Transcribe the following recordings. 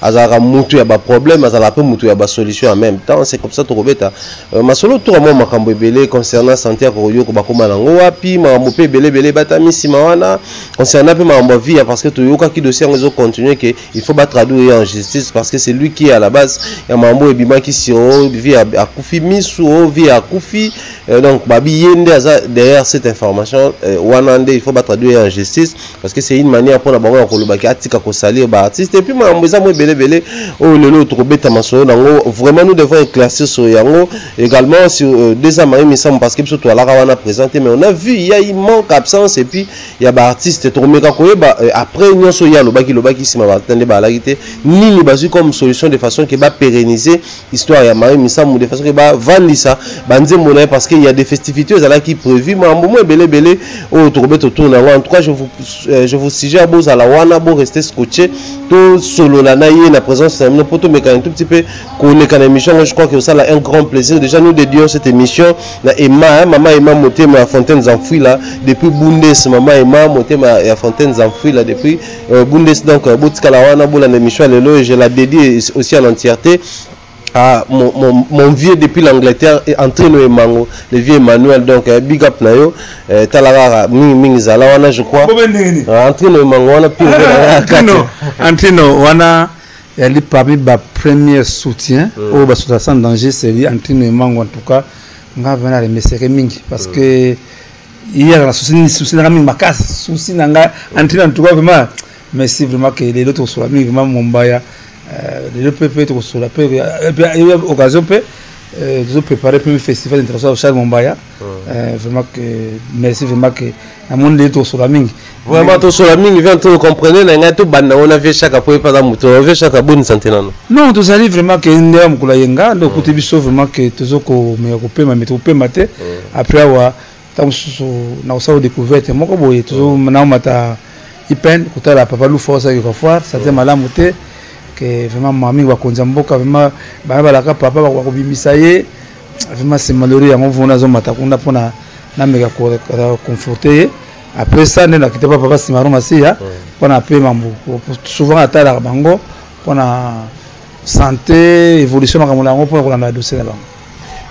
azalaka mutu ya ba problème azalaka pe mutu ya ba solution en même temps c'est comme ça tokobeta euh, masolo toka mwa makambo ebele concernant santé ya kokoyoko bakoma nango wapi makambo mpe ebele ebele ebatami nsima wana concernant mpe makambo ya vie ya parce que toyokaki dossier yango ezocontinue ke il faut batraduire ye en justice parce que c'est lui qui est à la base ya makambo oyo ebimaki si o vie akufi misu o vie akufi euh, donc babi ye nde aza derrière cette information euh, wana nde il faut batraduire ye en justice parce que c'est une manière mpona bango ya koloba ke atika kosalir ba artiste epuis makambo eza mo ebele ebele oyo lelo oyo tokobeta masolo nango vraiment nous devons éclaircir sur yango également sur euh, deux ans marie misamu parce que biso toalaka wana présent te mais on a vu il y a une manque absence epuis ya baartiste tokomeka koyeba euh, après nyonso ye alobaki lobaki nsima baartiste nde baalaki te nini bazwi comme solution de façon ke bapérenniser histoire ya mayo misamu de façon que ba vandisa ba nzembo na parce qu'il y a des festivités ezalaki prévu mambo mo ebele ebele oyo tokobeta autour na en tout cas je vous euh, je vous suggère bo zala wana bo rester scotché to solo la ye na présence na bino poto mekana tout petit peu koleka na émission je crois que ça a un grand plaisir déjà nous dédions cette émission na Emma hein, maman Emma motema ya fontaine enfouie là depuis Bundes maman Emma motema ya fontaine enfouie là depuis Euh, Bundes donc euh, botikala wana bolanda émission ya lelo je la dédie aussi en entièreté Ah, mon, mon, mon, vieux depuis l'Angleterre est entré no emango le vieux Emmanuel donc eh, big up na yo eh, talarara mingi mingi zala wana je crois ah, entré no emango wana pire ah, entré no wana yali parmi ba premier soutien mm. oyo basota sans danger c'est lui entré no emango en tout cas nga vraiment remeseke mingi parce mm. que hier na souci nini souci nanga mingi makasi souci nanga antrine en tout cas vraiment merci vraiment ke lelo tokosola mingi vraiment mombaya euh, lelo mpe mpe tokosola mpe occasion mpe euh, tozo préparer mpe festival international charles mombaya hmm. euh, vraiment que merci vraiment que namoni lelo tokosola mingi vraiment tosola mingi vient to comprendre na ngai tobanda yango na vie chaka mpo epaza moto na vie chaka boni sante nano non tozali vraiment ke nde ya mokolo aye nga nde okuti biso vraiment ke tozo komeka kopema me tokopema te après awa ntango mosusu na kosala découverte moko boye tozo naomata ipen kotala papa lufa osalaki kofoire sante malamu te ke vraiment mamingi bakonzi ya mboka vraiment bana balaka papa bakobimisa ye vraiment c'est malheureux yango vona azomata kuna mpona nameka koconforte ye après ça nde nakita pa papa simaro masiya mpona ape mambu souvent atalaka bango mpona santé évolution makambo na yango mpona kolanda badossier na bango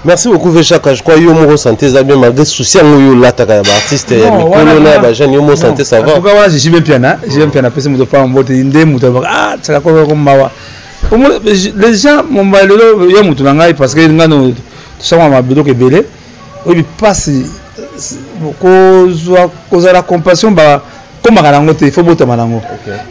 merci beaucoup vechaka je crois yo moko santé eza bien malgré souci yango yo olataka ya baartiste ya mikolo na ya bajeune yo moko santé ça va wana je suis bien piana je suis bien piana apesi moto paa mbote nde moto abaka ah tsaka koko mawa les gens momba lelo ya moto na ngai parce que ngai tosangaka mabiloko ebele oyebi mpasi kozwa kozala na compassion bakomaka na yango te ifo botama na yango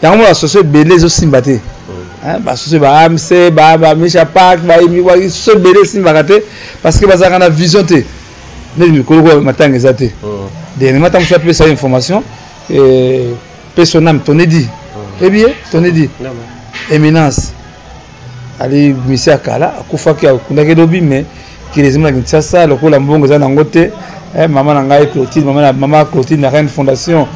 yango mona basoso ebele ezosimba te mm. basoso ba amc bamisha park basoso ebele esimbaka te parce que bazalaka na vision te neti mikolo matanga eza te mm. dernièrement ntango mosusu apesa ye information eh, pe son âme tonedi mm. ebiye tonedi éminence ali misi ya kala akufaki akundaki lobi me kili ezima na kinshasa lokola mbongo eza nango te eh, mama na ngai clotine mama, mama clotine na reine fondation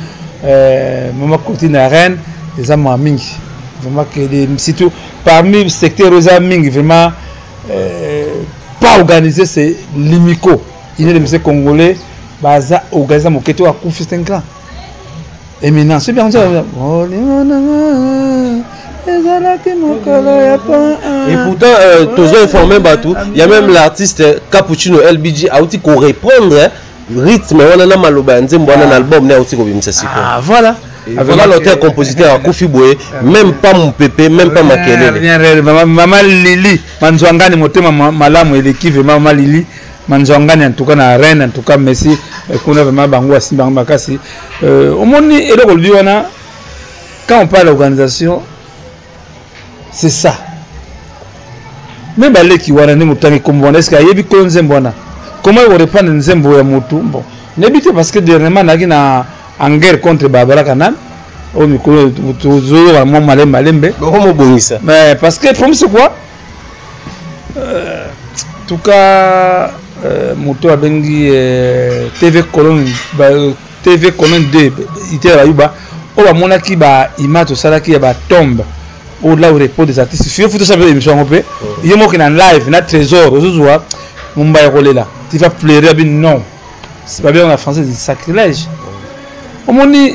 eh, mama clotine na reine eza maa mingi vraiment kili surtout parmi secteur oyo eza mingi vraiment eh, pas organisé c'est limico ine de mise congolais baza organise moke to akufi c'est un grand Eminence, c'est bien comme ça. Oh, ezalaki mokolo ya pon et pourtant euh, tozo informe bato ya même l'artiste euh, cappuccino lbg auti korépondre hein, rythme wana na maloba ya nzembo wana na ah. album ne auti kobimisa sikoyo ah, voilà vraiment l'auteur compositeur akufi boye même pas mopepe même pas makelele mama lili manzwangani motema malamu eleki vraiment mama lili manzwangani en tout cas na arène en tout cas messi eh, kuna vraiment bango basimbi bango makasi euh, omoni eloko olobi wana quand on parle d'organisation c'est ça me baleki wana ndenge otangi kombo wana eske ayebi kolo nzembo wana comment ekorepandre nzembo ya motu bon nayebi te parce que dernièrement nayaki na en guerre contre barbara canal oyo mikolo tozoyoka mwa malembe malembe boko mobongisa parce que promise quoi Euh, tuka euh, moto abengi euh, tv colonne tv colonne 2 itela bayuba oyo bamonaki baimage tosalaki ya batombe oyo la repos des artistes fio futa sape émission yango mpe oh. ye moki na live na trésor ozozwa momba ya kolela ti va pleure abi non babengaka na français sacrilège oh. omoni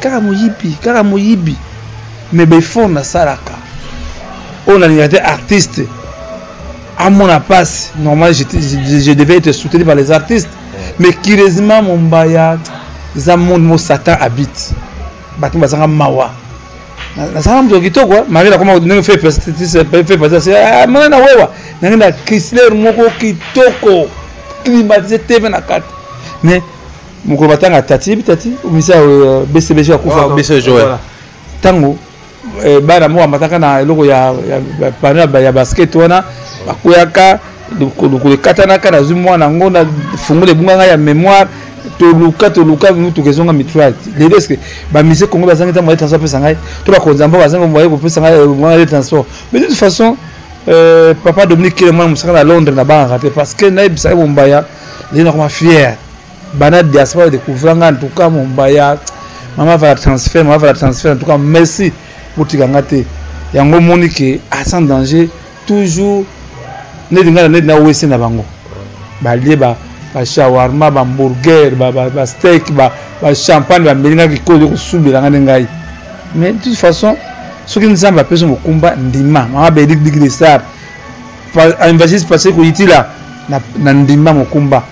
kaka moyibi kaka moyibi mais befort nasalaka oyo nalinga te artiste amona mpasi normal je, je, je devais être soutenu par les artistes mais curieusement mombaya eza monde mo satan habite bato bazanga mawa nasala moto kitoko mari nakoma ndenge fe pasasi mona na wewa nange na crisler moko kitoko climatise tv na kati mais mokolo batanga tati yebi tati omisa euh, bcbg akufa ah, ntango euh, bana moko amataka na eloko ya pano ya basket wana bakweyaka lokolo ekatanaka nazwi mwana yango na fungula ebunga ngai ya mémoire toluka toluka motuka ezonga mitrale lelo eske bamise congo bazangi ntango ya transport apesa ngai to bakonzi ya mboka bazangi moye kopesa ngai mwana ya transport mais de toute façon euh, papa dominique kele mwana mosaka na londres nabangaka te parce que nayebisaki bombaya lelo nakoma fière bana diaspora ba découvrir nga en tout cas mombaya mama va transfert mama va transfert en tout cas merci botika nga te yango moni ke a ah, sans danger toujours neti nga na neti na wese na bango balie ba ba shawarma ba hamburger ba ba, ba steak ba ba champagne ba melinga kikoyo kosubela nga ne ngai mais de toute façon soki nzambe apesi mokumba ndima mama bedik dikidesar evangeliste pasteur koyitila na, na ndimba mokumba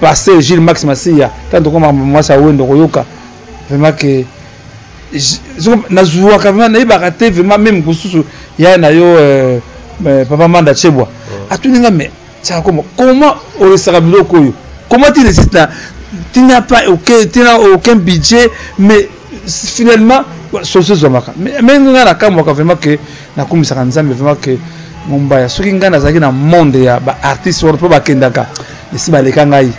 pasteur Gilles Max Masiya tanto tokoma mwasi awendo koyoka vraiment que nazuwaka vraiment nayebaka te vraiment meme mosusu yaya na yo euh, euh, papa manda chebwa atuni nga mais tiaka koma comment oresaka biloko oyo comment tu resiste na tina pas aucun, tina aucun budget mais finalement solution ezwamaka me ngai nakamwaka vraiment ke nakumisaka nzambe vraiment ke mombaya soki ngai nazalaki na monde ya baartiste wana mpo bakendaka esi baleka ngai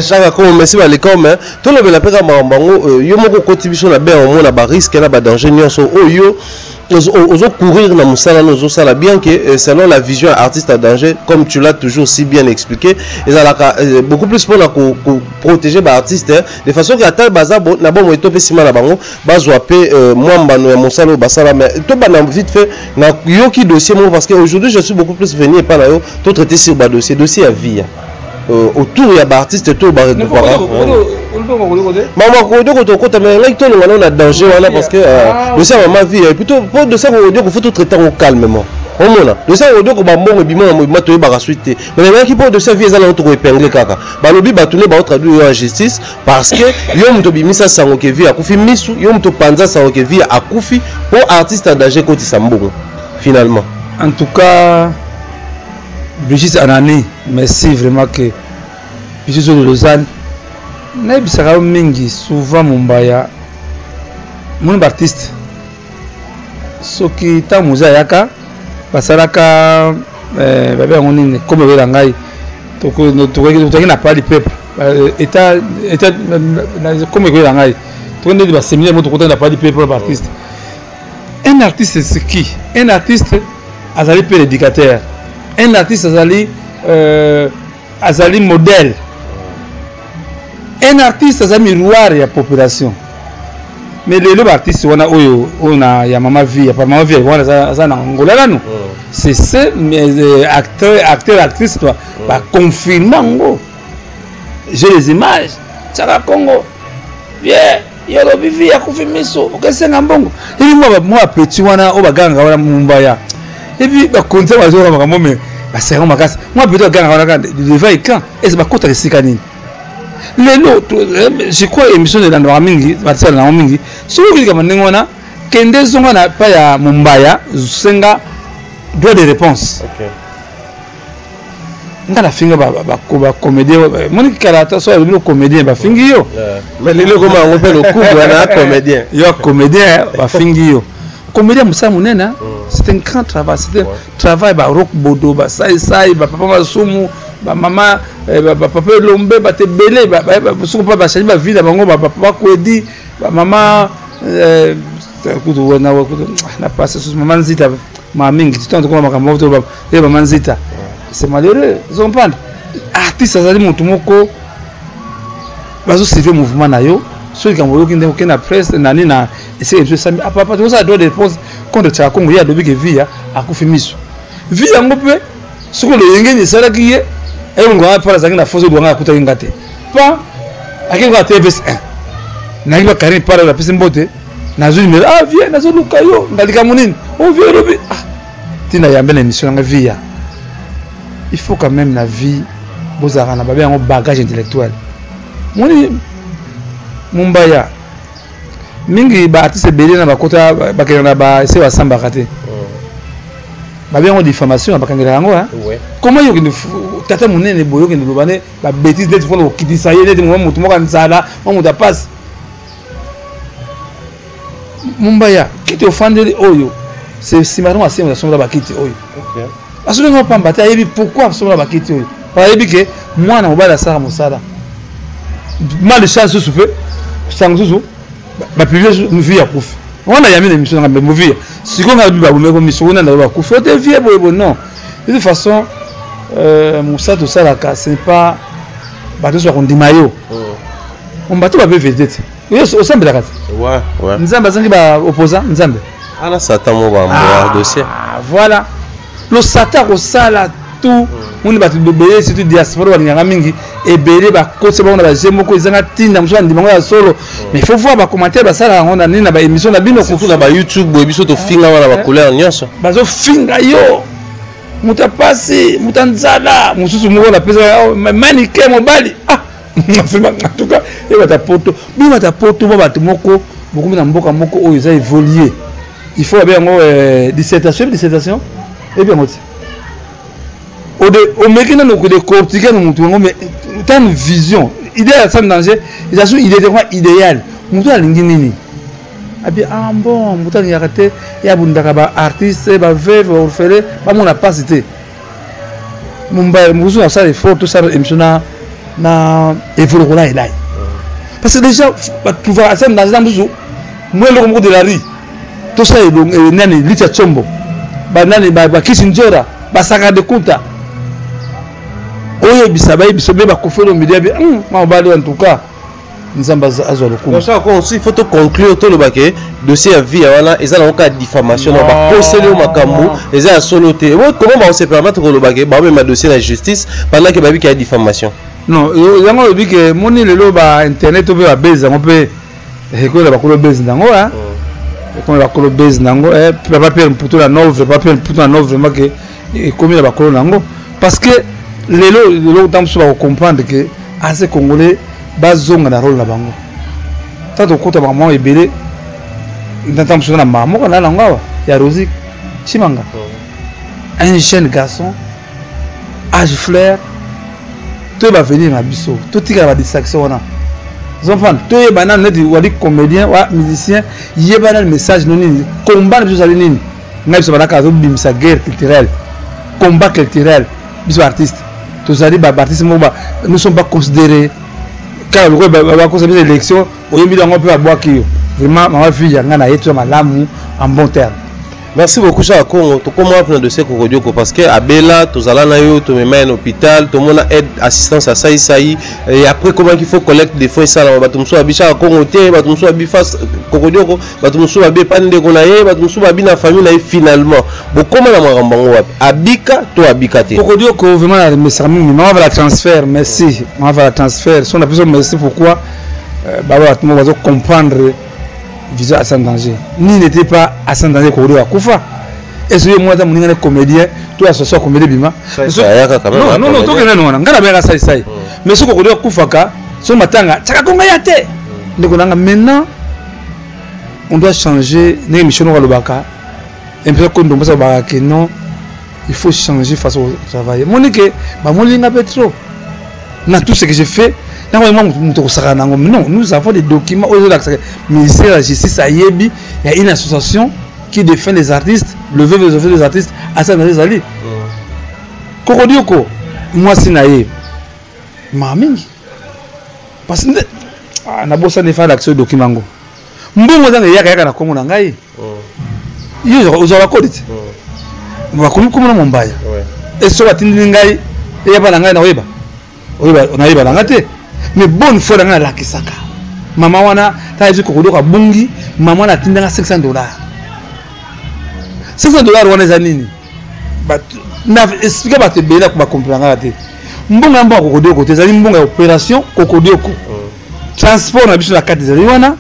shaka komo mesi baleka me tolobela mpe kaka makambo yango euh, yo moko okoti biso na bea omona bariske na badanger nyonso oyo oh, ozo courir na musala no sala bien que euh, selon la vision ya artiste à danger comme tu l'as toujours si bien expliqué ezalaka euh, beaucoup plus mpona ko, ko protéger ba artiste hein, de façon que ata baza bo, na bomoi to mpe nsima na bango bazwa mpe euh, mwa mbano ya mosala oyo basala mais tobanda vite fait na yoki dossier moko parce que aujourd'hui je suis beaucoup plus venu epai na yo to traiter sur ba dossier dossier ya vie hein. euh, autour ya baartiste to baregroupaka mama kodioko tokota me ngai tolonga nao na danger wana parce que euh, ah, dosi ya mama vie plutôt mpo dosi ya kodioko fo totraite yango calmement omona dosi ya kodioko bambongo ebima na mobima toyebaka suite te me nalingaki mpo dosi ya vie eza nango tokoepingle kaka balobi bato nde baotraduire yo ya justice parce que yo moto obimisa sango ke vie akufi misu yo moto opanza sango ke vie akufi mpo artiste ya danger ekotisa mbongo finalement en tout cas Brigitte Anani, merci vraiment que biso de Lausanne nayebisaka yo mingi souvent mombaya moni baartiste soki ntango moza ayaka basalaka eh, babe yango nini komi obela ngai tokoki na pali pepe eta komi ekobela ngai tokoki ndeti baseminaire mo tokotaki na pali pepe na baartiste un artiste c'est qui un artiste azali mpe l'éducateur un artiste azali euh, azali modèle un artiste aza miroir ya population mais lelo baartiste wana oyo oyo na ya mama vie ya mama vie wana aza na ngola nanu oh. c'est ce mais euh, acteur acteur actrice toi oh. ba confirma ngo j'ai les images tsaka congo yeah yo olobi vi ya kufi miso okesenga mbongo ebi mwa petit wana oyo bagangaka wana mumbaya ebi bakonzi yango bazoyoka makambo me basenga makasi mwa petit bagangaka wana kaka devant ecran ese bakotaka esika nini lelo eh, je crois émission elandaka mingi batisala nango mingi soki oki likambo ndenge wana kende zonga na pa ya mombaya senga droit de réponse okay. nga nafinga bacomédien moni kala ata so alobi comédien bafingi yo mais lelo ekoma yango mpe lokubu wana comédien yo comédien bafingi yo comédien mosala monene mm. c'est un grand travail c'est un travail barok bodo basaisai bapapa masumu bamama eh, bapapa elombe bato ebele soki mpa bachangi bavie na bango bapapa bakwedi bamama eh, kutu na pasi susu mama nzita maa mingi titantokola makambo Eh maman Zita, c'est malheureux, vous comprenez Artiste azali moto moko bazo suivre mouvement na yo soki likambo oyoki ndenge okende na presse nani na esika biso esami apapa tozala droit de réponse contre tshaka kongo ye alobi ke via akufi miso vi yango mpe soki loyengeni esalaki ye elongoa mpo azalaki na foso elwanga akutaki nga te pa akei kaka tvs 1 nayaki ba karine pala apesi mbote nazwi numero ah vie nazoluka yo nga likambo nini o oh, vie elobi ah tina yambe na émission yanga vie ya il faut quand même na vie bozalaka na babe yango bagage intellectuel moni mumbaya mingi baartiste ebele na bakota bakenda na base basambaka te oh. babe yango diffamation na bakangelaka yango hein? comment yo okende tata monene boye okende loba ne babétise neti mpona kokitisa ye neti mwa motu moko ya nzala mwa motu apasi mombaya kiti ofandeli oyo nsima ntango asenga asombola bakiti oyo asoki ngo pamba te ayebi pourquoi asombola bakiti oyo ayebi ke mwana mobali asala mosala mali sa susu mpe sango susu bapiblie vie ya kufi wana yami na émission nanga movie sikoyo ngai babomeko miso kuna ndako bakufi ote vie boye boye non de toute façon euh, mosala tosalaka ce n'est pas bato nyonso bakondima yo oh. Ombati ba BVD te. Yo osambelaka te. Ouais, ouais. Nzambe azangi ba opposant Nzambe. Ala satan mo ba mboa ah, dossier. Ah voilà. Lo satan ko sala tout mm. moni bato bobele surtout diaspora balingaka mingi ebele bakotisa bango na baje moko ezanga ntina mosusu bandima yango ya solo mm. mais faut voir bacommentaire basalaka yango na nini na baémission na bino surtout na bayoutube boye biso tofinga wana bacouleur nyonso bazofinga yo moto ya mpasi moto ya nzala mosusu moko napesaka oh, manike mobali ah en tout cas ebata poto bobata poto ba bato moko bokomi na mboka moko oyo eza évoluer il faut babe yango euh, dissertation ebi dissertation ebi yango ti omeki nano kode cortiquer na motu yango mais tano vision idée ya sam danger eza so idée te koma idéal motu alingi nini abi ah bon motu alingaka te ya bundaka ba artiste ba veuve ba orphelin bamona mpasi te mumbai mosusu nasala effort tosala émission na na evolokola elai parce que déjà batuvaka asa na nzela mosusu mwa eloko moko de la rie tosala eh, nani litia tsombo banani bakisi nzora basaka de kuta oyebisa bayebisa mpe bakofelo milia bi mabali en tout cas nzambe azwa lokumu il faut toconclure toloba ke dossier ya vie wana eza nango kaka diffamation na bakoseli yo makambo eza ya solo te comment bakosepermatre koloba ke baomema dossier na justice pendant ke bayebi ke ya diffamation non yango olobi ke moni lelo ba internet to mpe babezi yango mpe ekoyela bakolo bezi nango ekomela bakolo bezi nango papa pierre mputu na nove papa pierre mputu na nove vraiment ke ekomi na bakolo na yango parce que lelo lelo ntango mosusu bakocomprendre ke aze congolais bazonga na role na bango ta tokota makambo ebele ntango mosusu na mama moko na nango awa ya rosi chimanga oh. un jeune garçon age flair toyeba avenir na biso totikala badistraction wana zomfana toyeba nanu neti wali comédien wa musicien yeba nanu message no nini combat na biso ezali nini ngai biso balaka azobimisa guerre culturelle combat culturel biso baartiste tozali baartiste moko nous sommes pas considéré kaka lokola bakosa biso élection oyembi yango mpe babwaki yo vraiment mama fille ya ngai na ye toza malamu en bon terme merci beaucoup chaka congo tokoma wapi na dossier kokodioko parce que abela tozala na yo tomema ye na hôpital tomona aide assistance asalisa ye et après komaki faut collecte de fonds esalama bato mosusu abi chaka congo te bato mosusu abi face kokodioko bato mosusu babepa ndeko na ye bato mosusu babi na famille na ye finalement bokoma na makambo yango wapi abika to abika te kokodi oko vraiment na remesaka mingi mama vala transfert merci mama vala transfert so na biso merci pourquoi euh, baba bato moko bazo comprendre vision asan danger nini n'était pas asan danger kokodi akufa ezo ye mwana moninga ne comédien to asoso comédien bima non non non tokenda nona ngana beka sai sai hmm. mais soko kokodi akufaka so matanga tsaka konga ya te hmm. ndeko nanga maintenant on doit changer ndenge mission noko alobaka impesa ko ndombosa alobaka ke non il faut changer façon de travailler moni ke bamoni nga mpe trop na tout ce que je fais ntango yango moto moto akosaka na yango non nous avons des documents oyo ezolakisaka ministère de la justice ayebi ya une association qui défend les artistes le veuve des affaires des artistes asala na ezali kokodioko mwasi na ye maa mingi parce que ah, nabosani efa alakisa oyo dokima yango mbongo ezanga eyaka yaka na nkombo na ngai mm. yo ozwaka kodi te mm. bakomi nkombo na mombaya eso batindili ngai eyaba na ngai nakoyeba nayeba na ngai te mais bonne foi na ngai nalakisaka mama wana tayebisi kokodoka bungi mama wana atindanga 500 dollars 500 dollars wana eza nini na expliquer bato ebele na bakomprena kaka te mbongo ya mbongo ya kokodioko te ezali mbongo ya opération kokodioko mm. transport na biso na kati ezali wana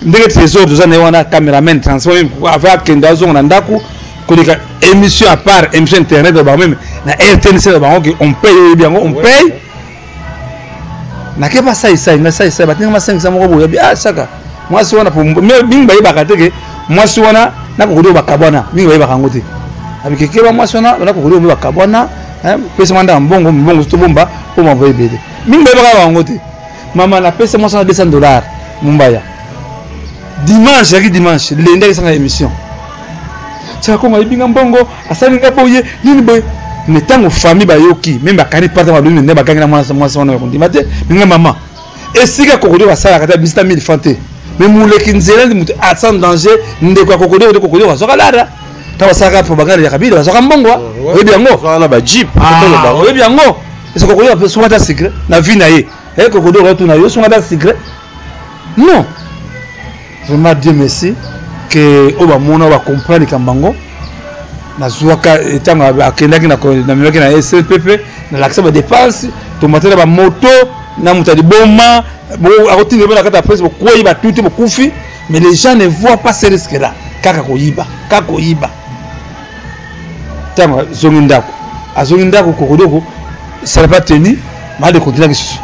ndenge trésor toza na ye wana cameraman transport ava akende azonga na ndako koleka émission à part émission internet na bango meme na rtnc na bango on paye oyebi yango on paye nake basaisai nga saisai batinga masengisa moko boye bi ah saka mwasi wana mingi bayebaka te ke mwasi wana nakokodi oyo bakabwana mingi bayebaka yango te abikekeba mwasi wana nakokodi oyo bakabwana eh, pesa manda ya mbongo mbongo tobomba mpo mavo ebele mingi bayebaka yango te mama napesa mwasi wana 200 dollar mombaya dimanche yaki dimanche lende akesanga émission saka kongo ayibi nga mbongo asali nga boye nini boye me ntango famille bayoki meme bakani pata balobi mende bakangi na mwana mwasi wana yakondima te minga mama esika kokodio basalaka te bisita 1000 franc te me moleki nzela ndi moto asa ah, danger ndeko ya kokodio kode kokodio bazwaka lada ntango basalaka propagande ya kabila bazwaka mbongo oh, oyebi yango ah, oyebi yango esa kokodio asungata secret na vie na ye eh, kokodio okatuna yo sungata secret non vraiment dieu merci ke oyo bamona oyo bacomprendre likambo yango nazwaka ntango eh, akendaki namemaki na slpp nalakisa badepense tomatela bamoto na moto ya liboma akotinda ebana kati ya presse bokwei batuti bokufi mais les gens ne voient pas ce risque là kaka koyiba kaka koyiba ntango azongi ndako azongi ndako kokodoko salapa teni maade kontina lisusu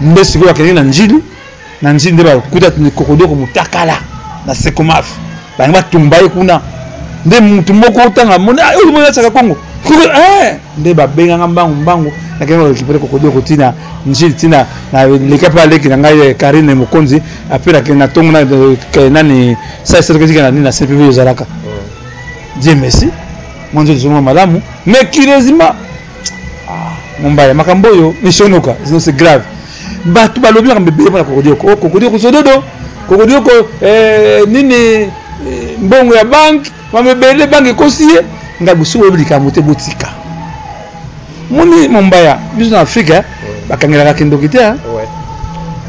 nde sikoyo akendeki na njili na njili nde bakuta kokodoko motakala na sekomafe bangi batumba ye kuna nde motu moko otanga moni ah, oyo moni atyaka kongo eh! nde babenganga mbangu mbangu nakenda korekipere kokodoko ntina njili ntina naleka mpe aleki na ngai eh, karine mokonzi ape na ntongo eh, nani sai sotoketika na nini na cpv ezalaka Dieu merci. Moi je suis malamu mais curieusement ah mombaya makambo yo mishonoka sinon c'est grave. Bato balobi makambo ebele mpona kokodioko oh, kokodioko sododo kokodioko eh, nini eh, mbongo ya banke makambo ebele banke ekosi ye ngai bosuku oyebi likambo te botika moni mombaya biso na afrika eh, bakangelaka kindoki te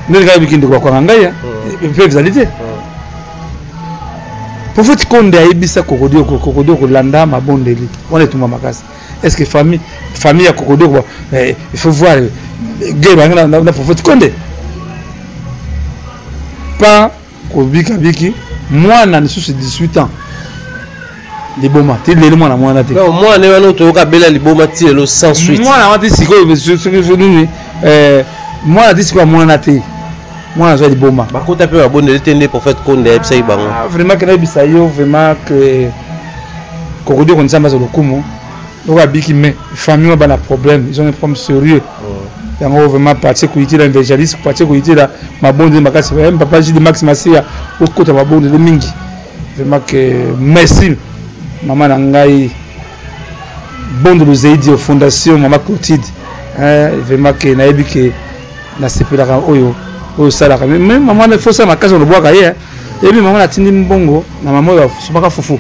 ndenge kaka bikindoki bakwanga ngai mpe ezali te prophète konde ayebisa kokodioko kokodioko landa mabondeli wana etumba makasi est ce que famille famille ya kokodioko eh, il faut voir eh, guerre bangi na, na, na prophète konde pas kobikabiki mwana lisusu 18 ans liboma ti lelo mwana mwana te non mwana wana oyo toyoka bela liboma ti lelo sans suite mwana wana ti sikoyo soki nini eh, mwana ti sikoyo mwana te mwana azwa liboma bakota mpe babondeli te nde prophète konde ayebisaki bango ah, vraiment ke nayebisa yo vraiment ke kokodi oko nzambe aza lokumu oko abiki mais famille oyo bana problème ils ont un problème sérieux oh. yango vraiment partie koyitela evangeliste partie koyitela mabondeli makasi eh, papa jide max masiya okota mabondeli mingi vraiment que merci mama na ngai bondo luzeidi fondation mama clotide vraiment que nayebi ke nasepelaka oyo oyo osalaka me mama fo sala makasi olobwaka ye eyebi mama natindi mbongo na mama oyo asopaka fufu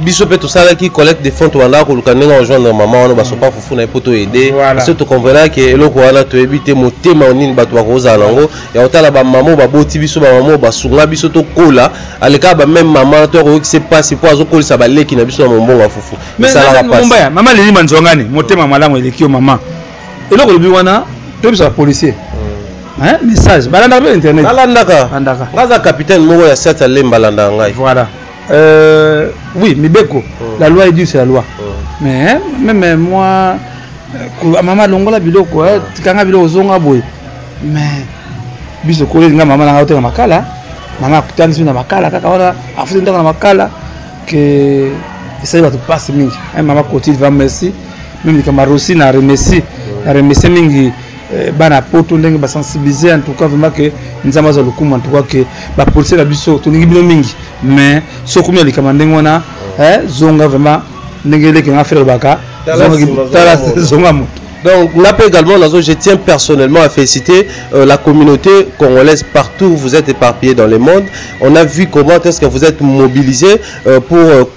biso mpe tosalaki collecte de fond tobandaka koluka ndenge ajoindre mama wana basopa fufu na ye mpo toyede biso tokomvenaki eloko wana toyebi te motema nini bato bakozala na yango ya kotala bamama oyo baboti biso bamama oyo basunga biso tokola alekaka bameme mama to akoyokisa mpasi mpo azokolisa baleki na biso na mombongo ya fufu esalaka mpasi mama leli manzwangani motema malamu eleki yo mama eloko olobi wana toyebisa bapolicier hein message balandaka mpe internet balandaka balandaka nga aza capitaine moko ya sat alemba alandaka ngai voilà Euh, oui, Mibeko, mm. la loi est due, c'est la loi. Mm. Mais hein, même euh, moi, euh, maman longola biloko, hein, tikanga biloko zonga boy. Mais biso kole nga maman nanga oteka makala, nanga kutani sina makala kaka wana afuti ndaka na makala que ça va te passer mingi. Hein, maman Cotille va merci. Même les camarades aussi na remercie, na remercie mingi. Eh, bana ya poto ndenge basensibilize en tout cas vraiment ke nzambe aza lokumu en tout cas ke bapolisie na biso tolingi bino mingi mais soki omi ya likama ndenge wana eh, zonga vraiment ndenge eleki nga fere lobaka zonga moto Donc, là également, je tiens personnellement à féliciter euh, la communauté congolaise partout où vous êtes éparpillés dans le monde. On a vu comment est-ce que vous êtes mobilisés euh, pour euh,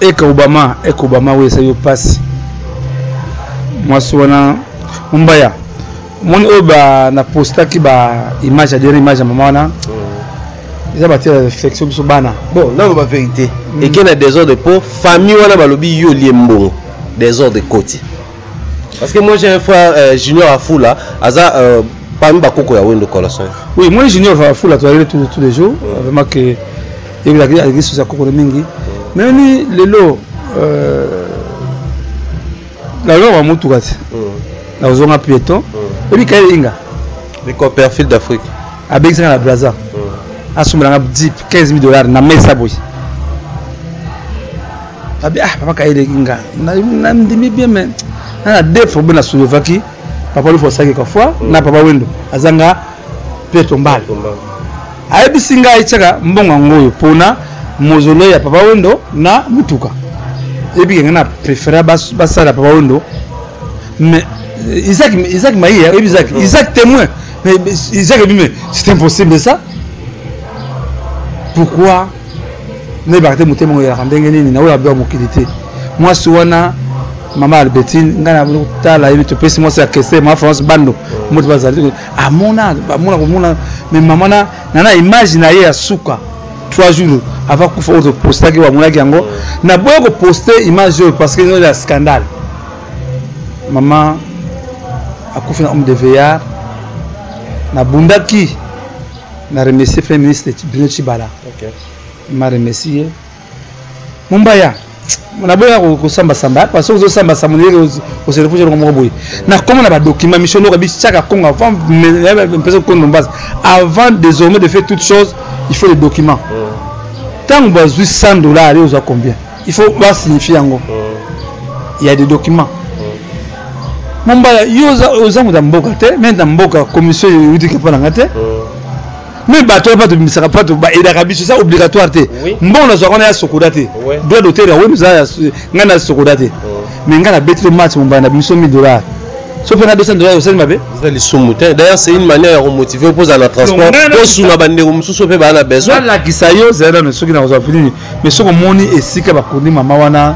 eka obama eka obama oyo esali yo mpasi mwasi wana mombaya omoni oyo na postaki ba image ya dernier image ya mama wana mm. eza batia réflexion biso bana bon nano ba vérité mm. eke na désordre mpo famille wana balobi yo olie mbongo désordre ekoti parce que moi j'ai un frère euh, junior afula aza euh, parmi bakoko ya wendo colossoi oui moi junior afula toyaleli tous les jours vraiment que ebelaki aleki susu ya kokolo mingi meni lelo euh, nalonga motuka te nakozonga pieton oyebi kaye inga bicoperfil d'afrique abekisaka na braza asombelanga 10 15 000 dollars na mesa boye abi ah papa kaye eleki nga nandimi bien mais nana defo mpe na soulevaki papa lufu asalaki kafoi na papa wendo azanga Pietro Mbala ayebisi ngai tiaka mbongo yango oyo pona mozolo ya papa wendo na mutuka ebike ngai na prefera basala papa wendo mais euh, Isaac Isaac Maïe hein, Isaac Isaac témoin mais Isaac dit mais c'est impossible ça pourquoi ne bakate motema ngo ya ndenge nini na oyo abya mokili te mwasi wana mama Albertine ngai na tala ye topesi mwasi ya kese ma France bando moto bazali amona bamona komona me mama na na image na ye ya suka trois jours avant kufa oyo topostaki bamonaki yango naboya koposte image oyo parce que ino ya scandale mama akufi na homme de veillard nabundaki na remercie premier ministre bruno chibala okay. ma remercie ye mombaya naboya kosambasamba parce que ozosambasamba ndenge oselefushe eloko moko boye nakoma na badokima misio eloko bityaka congo avant mpesa kokonde mombasa avant désormais de faire toute chose il faut le document ntango mm. bazwi 100 dollars yo ozwa combien il faut basignifie yango mm. ya des documents mm. mombala yo oza moto ya mboka te mende na mboka commission eyudiki mpo na nga te mais bato wana bato bimisaka bato baedaka biso eza obligatoire te mbongo nazwaka wana ya sokoda te droit d'auteur yango eza ngai na sokoda te mais ngai nabeti to match mombaya na biso 1000 dollars so mpe na 200 dollars osali mabe eza lisumu te d'ailleurs c'est une manière ya komotive mpo ozala na transport osuna bandeko mosusu mpe baa na besoin nalakisa yo zala nano soki nakozwa nini mais soki omoni esika bakundi mama wana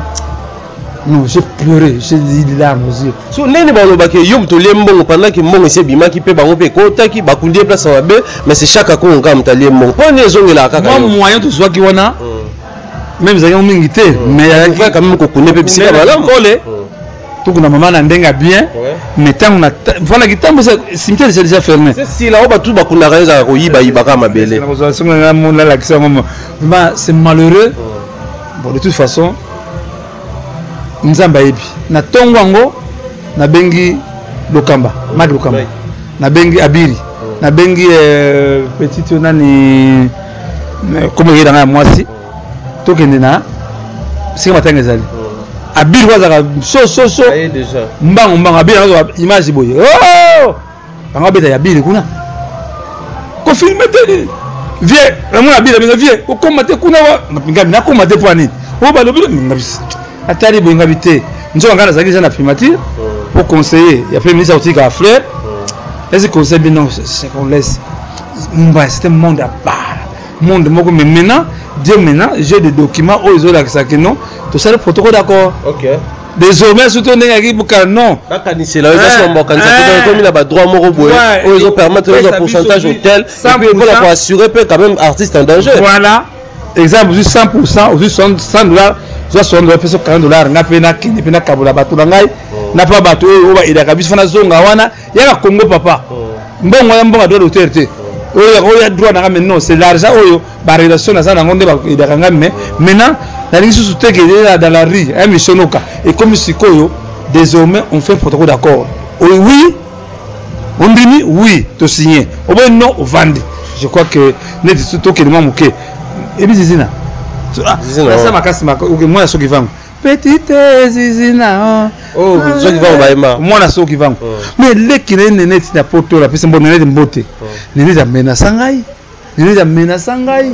Non, j'ai pleuré, j'ai dit les larmes aux yeux. So nene ba loba ke yo moto lie mbongo pendant que mbongo ese bimaki pe bango pe ekotaki bakundi ye place mabe mais c'est chaque akongo kaka moto alie mbongo mpo nini ezongelaka kaka mwa moyen tozwaki wana meme ezalaki yango mingi te mais ayaki quand même kokunde pe bisika malamu kole tokuna mama na ndenge ya bien mais ntango na voilà kitambo cimetière eza déjà fermé sila oyo bato bakundaka yo ezalaka koyibayiba kaka mabele nakozwa songo ngai monalakisa yango vraiment c'est malheureux bon de toute façon nzambe ayebi na ntongo yango nabengi lokamba maki lokamba nabengi abiri oh. nabengi euh, petite oyo nani euh, komo eyeda ngai ya mwasi oh. tokende na esika matanga ezali oh. abiri oyo azalaka sososo mbango mbango abiri yango image boye bango abeta ya bile kuna kofilme te nini vie namona ya bile benga vie kokoma te kuna wa ngabi nakoma te mpo nini oyo balobi ngabi atali boye ngabi te nzoka ngai nazalaki eza na primature po conseiller ya premier ministre akotika fleur esi conseil bino secondaise mumbai c'était monde à part monde moko mais maintenant dieu maintenant j'ai des documents oyo ezolakisa kino tosali protocole d'accord okay. désormais surtout ndenge yaki buka non bakanisela oyo kasi mambo akanisa te donc ekomi na badroit moko boye oyo ezopermettre ozwa pourcentage hotel epuis mpo na koassure mpe quand même artiste en danger voilà exemple ozwi 100 pourcent ozwi 100 dollar zwa 60 dollar mpe so 40 dollar ngai mpe nakende mpe nakabola bato na ngai na mpa bato oyo oyo baedaka biso fana zonga wana yaka congo papa mbongo ya mbongo ya droit d'auteur te oyo oyo ya droit nanga mais non c'est l'argent oyo ba relation naza nango nde bakoyebaka ngai mais maintenant nalingi susu te ke ezala dans la rue ya misonoka ekomi sikoyo désormais on fait protocole d'accord oyo oui ondimi oui tosigne oboyi non ovandi je crois que neti tokende mwa moke ebizi zina asa makasi mwana soki vango petite zizina oh zo kivango bayema mwana so kivango oh. mais leki na ye nene ti na poto la pesa mbona nene mbote oh. nene za mena sangai nene za mena sangai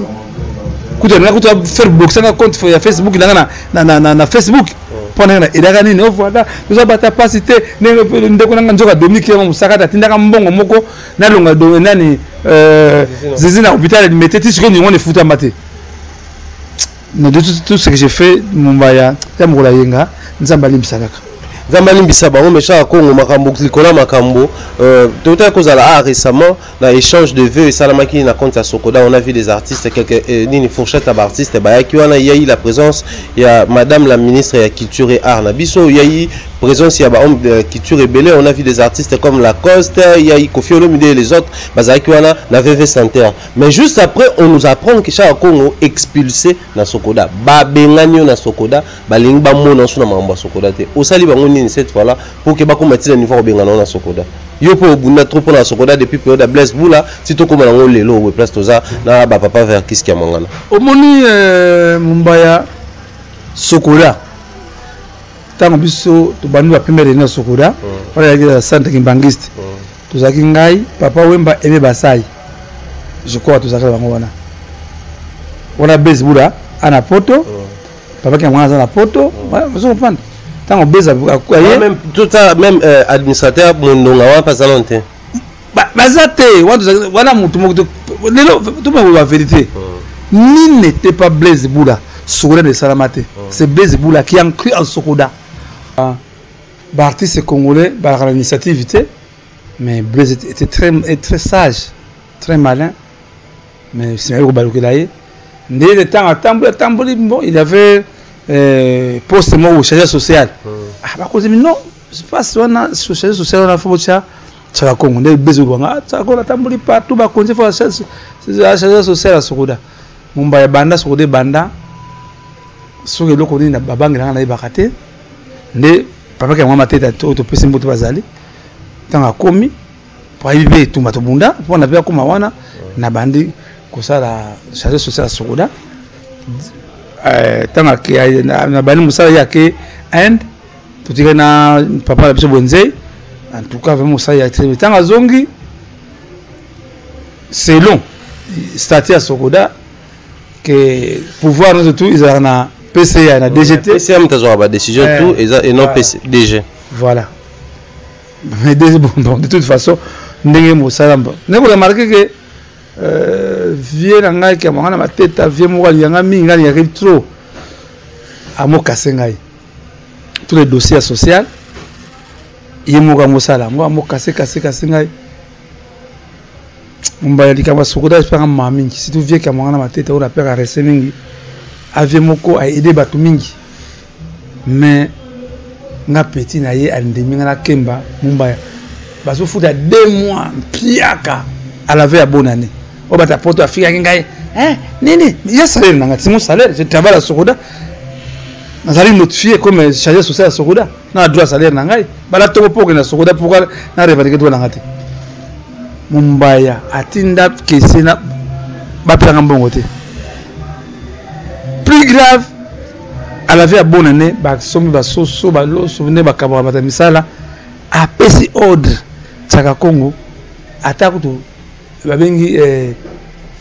kuta na kuta faire boxer na compte ya Facebook na na na na, na Facebook oh. mpo ndenge na elaka nini o voilà toza bata mpasi te ndenge ndeko nanga nzoka dominique yango mosakata atindaka mbongo moko nalonga nani euh, zizi na hôpital alimete ti sikoyo ningo nefutama te na tout, tout ce que j'ai fait mombaya ya mokolo ayenga nzambe alimbisa kaka nzambe alimbisa bango méchant ya congo makambo likolo ya makambo euh, totaki kozala a ah, récemment na échange de vœux esalamaki na compte ya sokoda on a vu des artistes quelque eh, nini fourchette ya baartiste bayaki wana yai la présence ya madame la ministre ya culture et art na biso yai présence ya bahomme de culture ebele on a vu des artistes comme lacoste yai kofi olomide et les autres bazalaki wana na vv center Mais juste après, on nous apprend que Shaka Congo expulsé na Sokoda. Ba bengani na Sokoda, ba lingi ba mona suna mamba Sokoda te. Osali bango nini cette fois là pour que ba komati na niveau bengana na Sokoda. Yo po obunda trop pona Sokoda depuis période de Blaise Bula, si to koma ngo lelo we place toza na ba papa vers kiski ya mangana. Omoni euh, Mumbaya Sokoda. Tango biso to bandi ba première na Sokoda, hmm. wala ya centre kimbangiste. Hmm. tozalaki ngai papa wemba eme basai je crois tozalaki na bango wana wana base buda a na poto oh. papa ki yango wana aza na poto oh. ozo comprendre ntango base aye même euh, administrateur mondonga wana mpe aza nano te baza te wana motu moko lelo tomekoba verité oh. nini n'était pas blaise buda sokoda na esalama te c'est blaise buda qui a cru en sokoda ah. Ba artistes congolais balaka na initiative te mais Blaise était très, très sage très malin mais nsima ye kobalukela ye ndele ntango atamboli atamboli bon il avait euh, poste moko chargé social hmm. ah, bakozi mino pasi wana chargé social wana fo botya tsaka kongo nde bezo lwanga tsaka kongo atamboli partout bakonzi fo chargé social asokoda mombaya banda sokoda ebanda soki eloko nini babangelanga nayebaka te nde papa kya mwa mateta oyo topesi mbote bazali ntango akomi mpo ayebi mpe etumba tobunda mpo na mpe akoma wana nabandi kosala charge social ya sokoda ntango eh, nabandi mosala ye ake inde totikali na papa na biso bwenzei en tout cas vraiment mosala ya très ntango azongi selon stati ya sokoda que pouvoir nous tout ils ont na PCA na DGT PCA mtazwa ba décision eh, tout eza et non PC DG voilà mais des bon, bon de toute façon ndenge mosala mbo ndenge remarquer que euh, vieux na ngai kia mwana mateta vieux moko aliyanga mingi ngai aliyaki trop amokase ngai tous les dossiers ya social ye moko amosala yango amokase kase kase ngai Mombaya likambo ya sokoda espaka mama mingi surtout vie kama ngana matete oyo napeka rese mingi avie moko aide bato mingi mais nga petit na ye andimi nga nakemba mombaya bazofuta deux mois mpiaka alave ya bonne année oyo bato ya poto afikaki ngai eh, nini ya salaire na ngai timo salaire je travaille ya sokoda nazali notifie comme charge sociale ya sokoda na droit salaire na ngai bala toko mpo okenda sokoda mpo na revendique droit na ngai te mombaya atinda kese na bapesaka mbongo te plus grave alave ya bona ne basombi basoso baloso nde bakabaka bata misala apesi ordre tsaka congo ata kutu babengi eh,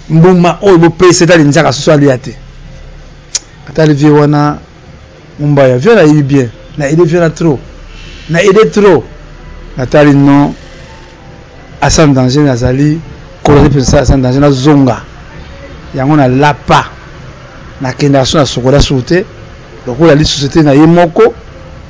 mbuma oyo bopesi etali nzaka soso alia te atali vie wana Mombaya vieux nayebi bien na aide vieux na trop na aide trop natali non asan danger nazali kolali mpenza sala asan danger nazonga yango nalapa nakendaka so na sokola sur te lokola ali société na ye moko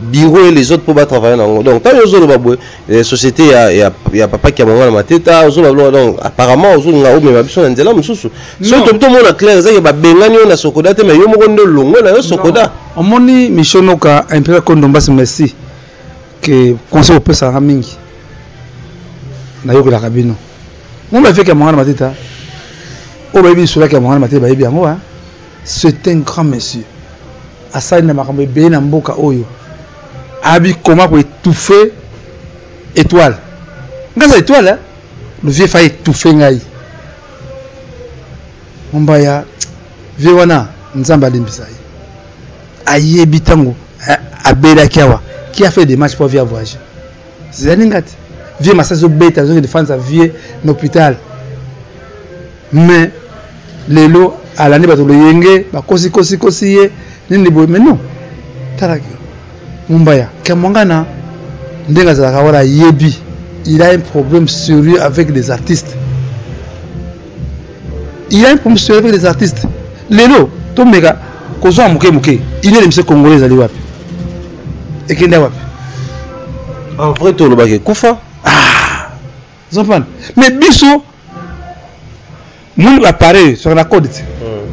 bureau et les autres pour ba travailler na ngo donc tango ozoloba boye eh, société ya, ya, ya papa kiamanga na mateta ozoloba biloko donc apparemment ozolinga omema biso na nzela mosusu soki tobi tomona claire ezaki babengani yo na sokoda te mais yo moko nde olongo na yo sokoda omoni mishonoka impera kondombasi merci ke conseil opesaka mingi nayokelaka bino ngo bafeki ya mongana mateta oyo bayebi lisolaki ya mongana mateta bayebi yango C'est un grand monsieur. Asali na makambo ebele na mboka oyo. Abi comment ko étouffer étoile. Ngaza étoile, hein? le vieux fa étouffer ngai. Mombaya vieux wana nzambe alimbisa ye. Ayebi tango eh, abelaki awa qui a fait des matchs pour via voyager. zizani ngati vieux masa azobeta azokende fanza vieux na hôpital mais lelo alandi bato loyenge bakosi kosi kosi ye nini boye mais non tala mumbaya kamwangana ndenge azalaka wana ayebi il a un problème sérieux avec les artistes il y a un problème sur les artistes lelo tomeka kozwa moke moke une heure emission congolais ezali wapi ekende wapi en vrai tolobaki ekufa ah zopana mais biso moni bapareil soki na code te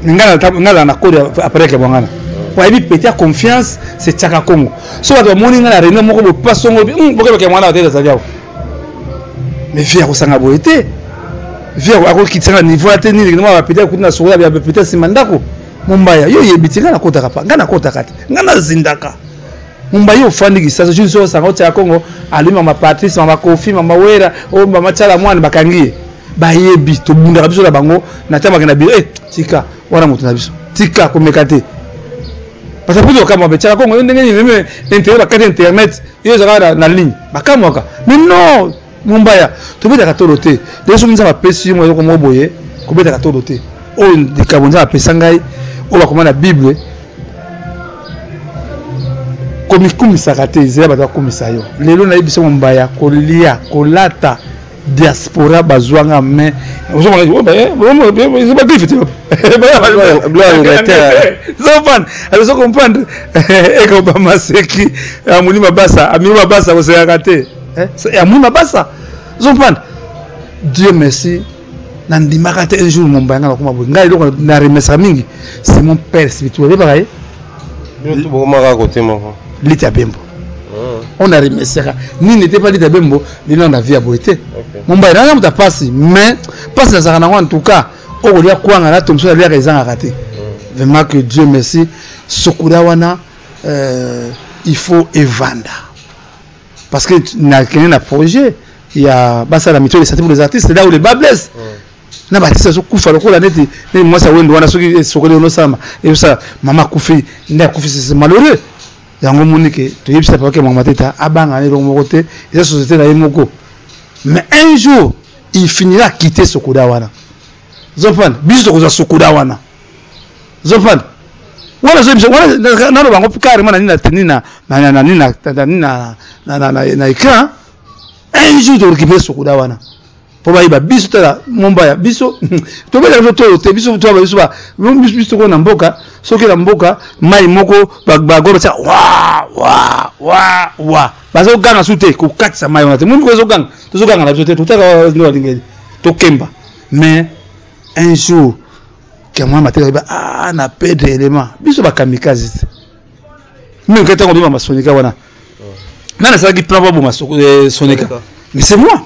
hmm. ngala na code apareil ya bwangana hmm. wayebi peti ya confiance se tiaka congo so bato bamoni ngai na réunion moko bopasongo hmm, bokebake mwana batete azali awa mais vie akosanga boye te vie akokitisanga niveau ya te nini kino bapeti akuti na sokola bya bapeti nsima ndako mombaya yo oyebi te ngai nakotaka pa ngai nakotaka te ngai nazindaka mombaya ofandi kisasa jus oyo osanga otyaka kongo alumi mama patrice mama kofi mama wera oyo oh, mama tyala mwana bakangi ye bayebi tobundaka biso na bango na ntango bakenda biro e eh, tika wana moto na biso tika komeka te baza mpe lokamwa betiaka kongo yo ndenge nini meme internet bakati internet yo ezalaka na ligne bakamwaka mais non mombaya tobetaka tolo te lelo soki nzambe apesi yo eloko moko boye kobetaka tolo te oyo likambo nzambe apesa ngai oyo bakoma na bible komikumisaka te ezela bato bakumisa yo lelo nayebisa mombaya kolia kolata diaspora bazwanga main azo comprendre eko bamaseki amoni mabasa amini mabasa kosekaka te amoni mabasa ozo comprendre dieu merci nandimaka te un jour mombaya nga nakoma boye ngai eloko na remesaka mingi c'est mon père spirituel oyebaka ye bokomaka kote moko lita bembo on a remesaka nini ete pa lita bembo bino na vie ya boye te mumbai naza moto ya mpasi mais mpasi nazalaka nango en tout cas okolia kwanga na tomso naliaka ezangaka te mm. vraiment que dieu merci sokola wana euh, il faut evanda parce que nakende na projet ya basala mito lesati pour les artistes là où les bas blesse mm. na baartiste azokufa lokola neti neti mwasi ya wendo wana soki sokoli onosala ezosala mama akufi nde akufi malheureux yango omoni ke toyebisa papa ke mama teta abanga na eloko moko te eza société na ye moko mais un jour il finira quitter sokoda wana zofana biso tokozwa sokoda wana zofana wana zoyebisa wana naloba yango carrément na nini na teni na na nini na na na na na écran un jour torécupere sokoda wana mpo bayeba biso tala mombaya biso tobelaka biso tolo te biso toyaba biso biso tokoo na mboka soki na mboka mai moko bago batya wa wa wa wa bazoganga su te kokatisa mai wana te moni kozoganga tozoganga na biso te totaka nde balingeli tokemba mais un jour kamwa mateka yeba a ah, na pedre element biso bakamikaze te mimi ngai ntango bima masonika wana nani asalaki plan baboma eh, sonika mais c'est moi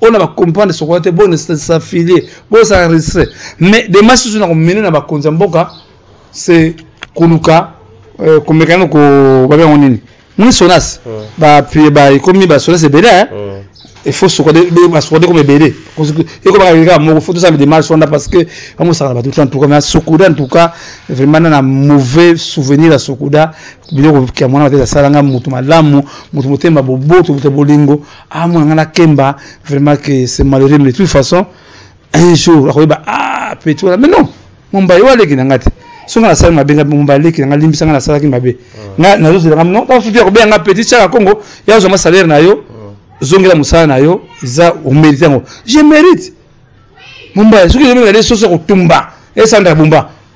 ona ba comprendre sokola te bone s'affilie bo sa enregistrer mais des matchs sur na ko mener na ba konza mboka c'est koluka euh, komekana ko ba bango nini moni sonas mm. ba puis ba ekomi ba sonas ebele hein mm. il faut sokola de ba sokola de comme ebele eko ba kaka moko faut tout ça des matchs onda parce que amu sa ba tout en tout cas mais sokola en tout cas vraiment na mauvais souvenir à sokola biloko kia mwana ba tesa salanga mutu malamu mutu motema boboto bolingo ah mwana nga nakemba vraiment que c'est malheureux mais de toute façon un jour akoyeba ah petit wana mais non mombaye oyo aleki na nga te soki nga nasali mabe nga mombaye aleki na nga limbisa nga nasalaki mabe nga nazozela nga non tafuti ya kobenga nga petit tiaka kongo ya ozwa nga salaire na yo zongela mosala na yo eza omerite yango je mérite mombaye soki ezobenga de soso ya kotumba esanda bumba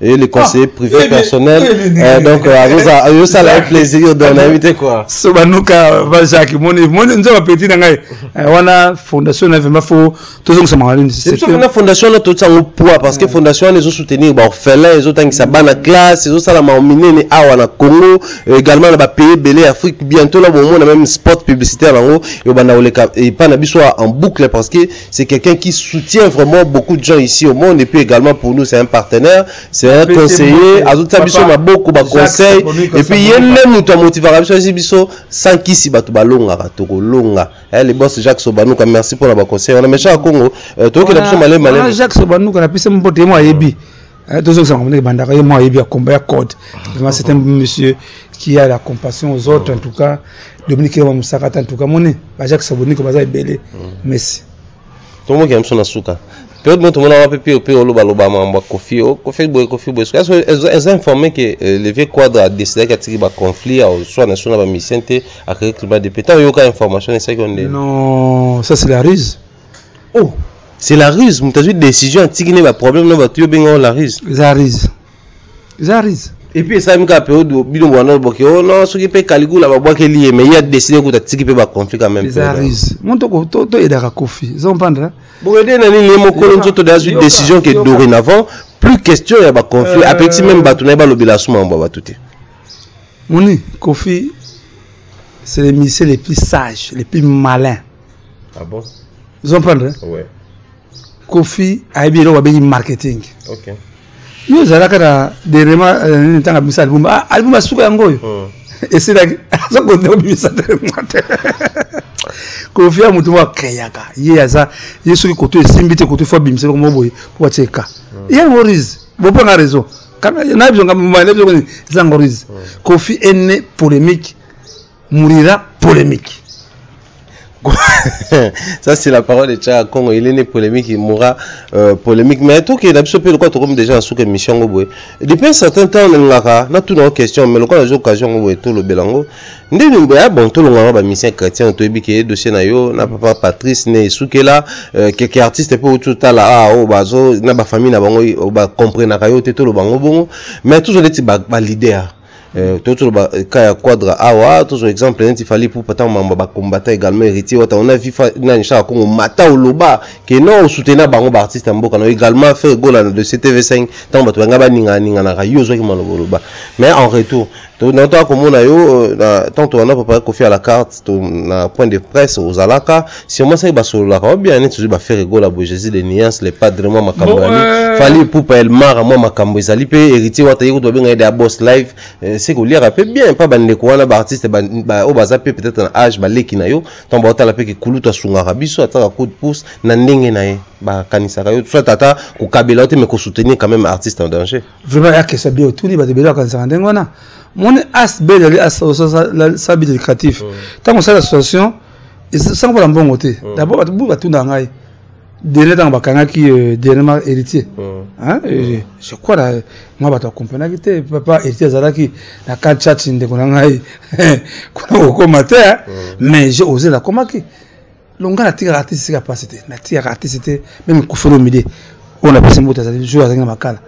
et le conseiller ah, privé eh personnel eh euh, donc euh, azoza ayosala ye plaisir donc nayebi te kua so banuka ba jacques moni moni nzoka petit na ngai euh, wana fondation na vraimen fo tozongisa makalina fondation wana totya yango poids parce que fondation wana ezosoutenir baorphelin ezotangisa bana classe ezosalama minene awa na congo également na bapays ebele ya afrique bientôt na bomona même sport publicitaire yango ebanda koleka epai na biso en boucle parce que C'est quelqu'un qui soutient vraiment beaucoup de gens ici au monde et puis également pour nous c'est un partenaire, c'est un conseiller, azotia biso maboko ba conseil et puis ye nde moto amotivaka biso asi biso sans kisi bato balongaka tokolonga eh, le boss Jacques Sobanuka merci mpona baconseil wana mechaka Congo euh, tokokenda biso malema Jacques Sobanuka napesi mbote ye mo ayebi Eh, tozongisa makambo ndenge ebandaka ye moko ayebi akomba ya code vraiment c'est un monsieur qui a la compassion aux autres en tout cas dominique yoma mosaka ata en tout cas moni bajacque saboniko baza ebele merci tomokela biso na suka periode moko tomonaka mpe mpe mpe olobaloba makambo ya kofi o kofi boye kofi boye soki eza informe ke euh, le vieux quadre adecidaki atiki baconflit soit na biso na bamisien te akaki climat de pe ntango oyoka information esalaki yo nde non ça c'est la ruse oh c'est la ruse moto azwi décision atiki ne baproblème na bato yo obengao la ruse eza ruse eza ruse epuis esalami kaka periode bino bwana boke o oh, no soki mpe kaligula babwakeli ye mais ye adeside kuta atiki mpe baconflit quand même eza ruse moto toyedaka kofi ozo comprendre boyede na nini ye mokolo nzoto de azwi décision ke dorénavant plus question ya baconflit euh, apekisi meme bato na ye balobela asuma mambo ya bato te moni kofi c'est le musicien le plus sage le plus malin ah bon vous comprendre hein? ouais. kofi ayebi eloko babengi marketing okay. yo ozalaka na derema nini euh, ntango abimisa album ah, album asuka yango oyo oh. esilaki aza kondeko bimisa derema te kofi ya motu moko akreaka ye aza ye soki koto esimbi te koto fo abimisa eloko moko boye mpo atie ka hmm. yango rise bopanga raison nayebi zonga mobali nayebi zonga nini eza yango rise hmm. kofi ene polémique mourira polemique ça c'est la parole de Tchaka Congo il est né polémique il mourra euh, polémique mais tout qui est l'absolu pe lokola tokomi déjà na suka émission yango boye depuis un certain temps nalingaka natuna yo question mais lokola nazwi occasion yango boye tolobela yango ndenge boye ah bon tolongaka bamusicien chrétien toyebi ke dossier na yo na papa patrice ne esukela euh, keke artiste mpe outi otala ah oyo oh, bazo na bafamille na bango oh, bacomprenaka yo te toloba yango bongo mais tozwa neti baleader ba Euh, tozo loba euh, cas ya quadra awa ah, tozo exemple neti fali pupa ntango mambo bakombata également héritier wata on a vu nani shaka kongo mata oloba ke non osoutenir bango baartiste ya mboka na également faire gola na dossier tv5 ntango bato banga baninganinganaka yo ozwaki maloba oloba mais en retour totoka komona yo ntango euh, tolanda papa kofi à la carte to na point de presse ozalaka sûrement soki basololaka obia neti ozwi bafere gola boye jésus de nuance le padre mwa makambo yali euh, fali epupa elmara mwa makambo ezali mpe héritier wata ye kutu babenga ye de abos live euh, se koliaka mpe bien mpa bandeko wana baartiste oyo baza mpe peut-être na age baleki na yo ntango baotala mpe kikulutu asungaka biso ataka coup de pouce na ndenge na ye bakanisaka yo soit ata kokabela yo te mais kosoutenir quand même artiste en danger vraiment ya kesa bien otuni bato ebele bakanisaka ndenge wana moni asb ezali asala bit éducatif ntango osala association esanga mpona mbongo te dabord bato bu batunda ngai dernier ntango bakangaki dernièrement héritier je crois na mwa bato akomprenaki te papa héritier azalaki na kan church ndeko na ngai kuna kokoma te mais je osela akomaki donc nga natikaka artiste sika mpasi te natikaka artiste te meme kofelo mide oyo napesi mbote azali jour azali na makala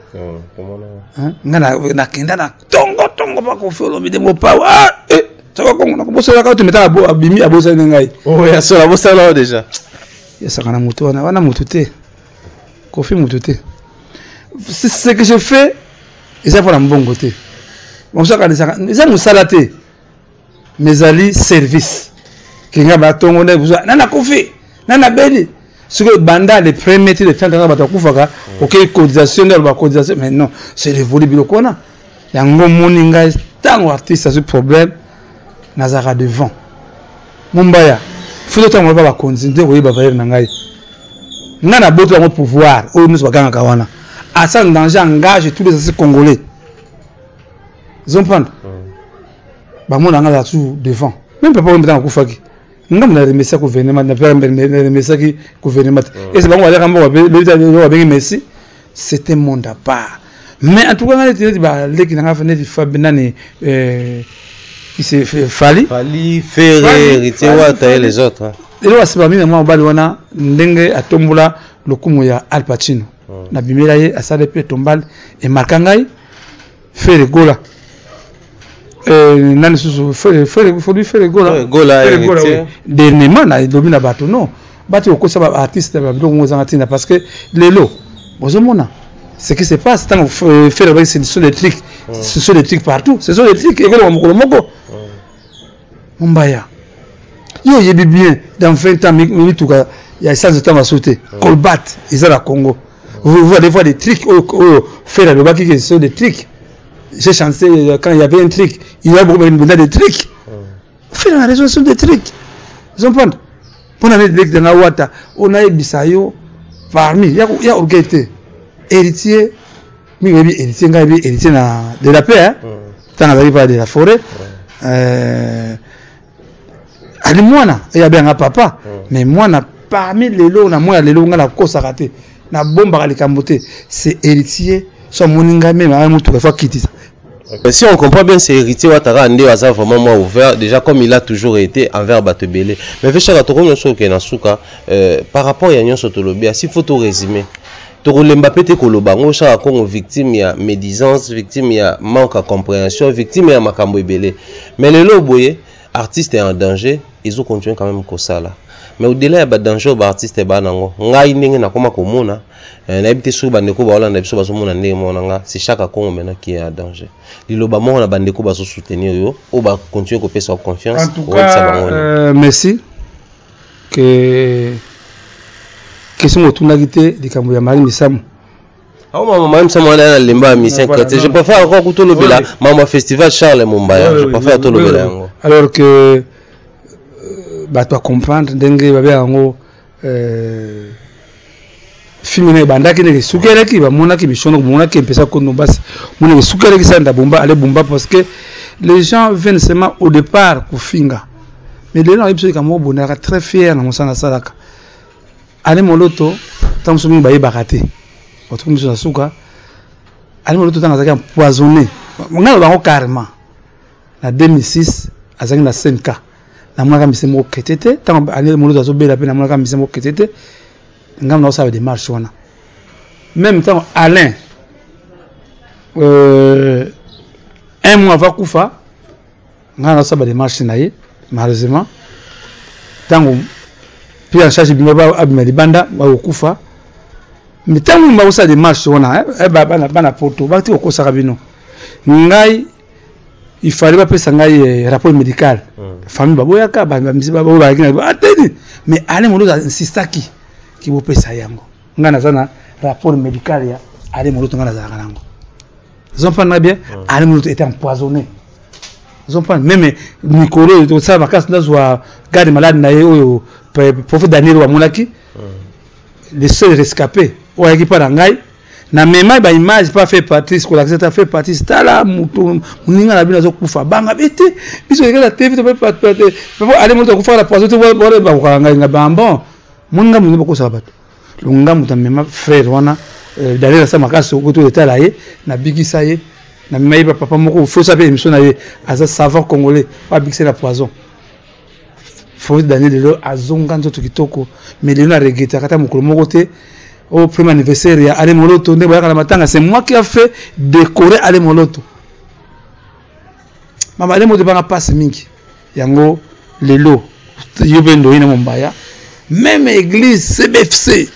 nga nakenda na tongo tongo mpa kofelo mide ngo pawa ah, eh, saka kongo nakobosolaka oyo tometaka abimi abosali na ngai oh, yasolo abosala oyo deja yasaka na motu wana wana motu te kofi motu te ce que je fais eza mpo na mbongo te bamosuakanisaka eza mosala te mezali service kinga batongo nde buzwa na nakufi na nabeli sikoyo banda le premier ti le fin kaka bato bakufaka mm. okei cotisation nde aloba cotisation mais non c'est révolu biloko wana yango moni ngai ntango artiste azwi problème nazalaka devant mombaya fito ntango aloba bakonzi nde koyeba valeur na ngai ngai naboti yango pouvoir oyo nyonso bagangaka wana asala danger engage tous les asi congolais zomprendre bamona nga la tour devant meme papa oyo mbetanga akufaki nga mna remesa gouvernement na remesaki gouvernement te ese bango baleka mboka babengi messi c'est un monde à part mais en tout cas nga neti neti baleki na nga fa neti fabi nani euh, c'est Fali. Fali, Ferre, Héritier Wata et les autres. Hein. Et là, c'est pas bien, moi, on va le voir, dengue, à tombola, le coup, il y a Al Pacino. hmm. na bimela ye asala pe tombale emarka ngai fere gola eh, nani susu fere fere fodui fere gola gola eh, dernièrement na lobi na bato non bato okosa ba artiste na babiloko ngo ezanga ntina parce que lelo bozomona ce qui se passe ntango euh, fere abaki ce sont des trucs hmm. ce sont des trucs partout ce sont des trucs ekoleka mokolo moko hmm. Mombaya. Yo oyebi bien dans 20 ans mituka ya essence etanga baso te. Hmm. Colbat eza na Congo. Vous voyez des fois des tricks oyo oh, oyo oh, faire alobaki que ce sont des tricks. J'ai chanté euh, quand il y avait un trick, il y a beaucoup de des tricks. Hmm. Faire la raison sur des tricks. Vous comprenez Pour la lek de la wata, on a ebisa yo parmi ya ya orgueil héritier mingi oyebi héritier ngai oyebi héritier na de la paix ntango azalaki paa de la forêt euh, ali mwana eye abenganga papa mais mwana parmi lelo na mwana lelo ngai nakosaka te nabombaka likambo te c'est héritier so amoni ngai meme aa motuka efo akitisa Mais si on comprend bien, c'est héritier Ouattara Ande Aza vraiment moins ouvert, déjà comme il a toujours été envers Batebele. Mais Véchara Toko Nyoso Kenasuka, euh, par rapport à Nyoso Tolobia, s'il faut tout résumer, tokolemba pe te koloba yango osala congo victime ya médisance victime ya manque ya comprehension victime ya makambo ebele mais lelo boye artiste ya en danger ezo continue quand même kosala mais au-delà ya badanger oyo baartiste ebaa na yango ngai ndenge nakoma komona eh, nayebi te soki bandeko baolanda biso bazomona ndenge moko na ngai c'est chaque congo maintenant qui est en danger liloba moko na bandeko bazosoutenir yo oyo bacontinue kopesa yo confiance oyebisa bango euh, merci que question motunaki te likambo ya mari misamu awa mama mama misamu wana na lemba ya mission Voilà, kati je non. préfère encore kutu olobela Ouais. mama festival charles mombaya Ouais, je ouais, préfère ouais, tolobela ouais, yango alors que euh, bato bacomprendre ndenge babea yango euh, fimbi na ebandaki ndeke esukelaki bamonaki mishono komonaki mpesa kono basi moneke esukelaki sa nda bomba ale bomba parce que les gens viennent seulement au départ kofinga mais lelo nayebi soki kamoko bondaka très fier na mosala asalaka ale moloto ntango mosusu mingi bayebaka te batuku miso na suka ale moloto ntango azalaki empoisonné ngai na bango carrément Na 2006 azalaki na CNK. Namonaka mise moko chrétien te ntango Anel Moloto azobela mpe namonaka mise moko chrétien te ngambo na kosala demarche wana meme ntango Alain euh, un mois ava kufa ngai nasala bademarche na ye malheureusement ntango pris en charge bima abima libanda bakokufa ntango bakosala demarche wana eh, eh, bana poto bakati kokosaka bino ngai il fallait bapesa ngai eh, rapport médical hmm. famille baboyaka bamisi baoyo bayaki na ateni mais ale moloto insistaki ki bopesa yango ngai naza na rapport médical ya ale moloto ngai nazalaka nango zomprendre na bien hmm. ale moloto était empoisonné zomprendre meme mikolo oyo tosala makasi nazwa garde malade na ye oyo prophète daniel wamonaki hmm. le seul rescapé oyo ayaki mpa na ngai na mema ba image pas fait Patrice ko lakisa ta fait Patrice tala mutu muninga na bino kufa banga bete biso ekala TV to pas pas pas aller mutu kufa la poison to ba ba ko nga nga ba bon muninga muninga bako sa bato lunga mutu mema frère wana euh, d'aller sa makasi ko to etala ye na bigisa ye na mema ye papa moko faut sa pe émission na ye aza savoir congolais pas bigisa la poison Francis Daniel lelo azonga nzoto kitoko mais lelo na regrette akata mokolo moko te au premier anniversaire ya Ale Moloto nde boyaka na matanga c'est moi qui a fait décorer Ale Moloto mama Ale Moloto banga passe mingi yango lelo yo mpe ndoyi na mombaya même église CBFC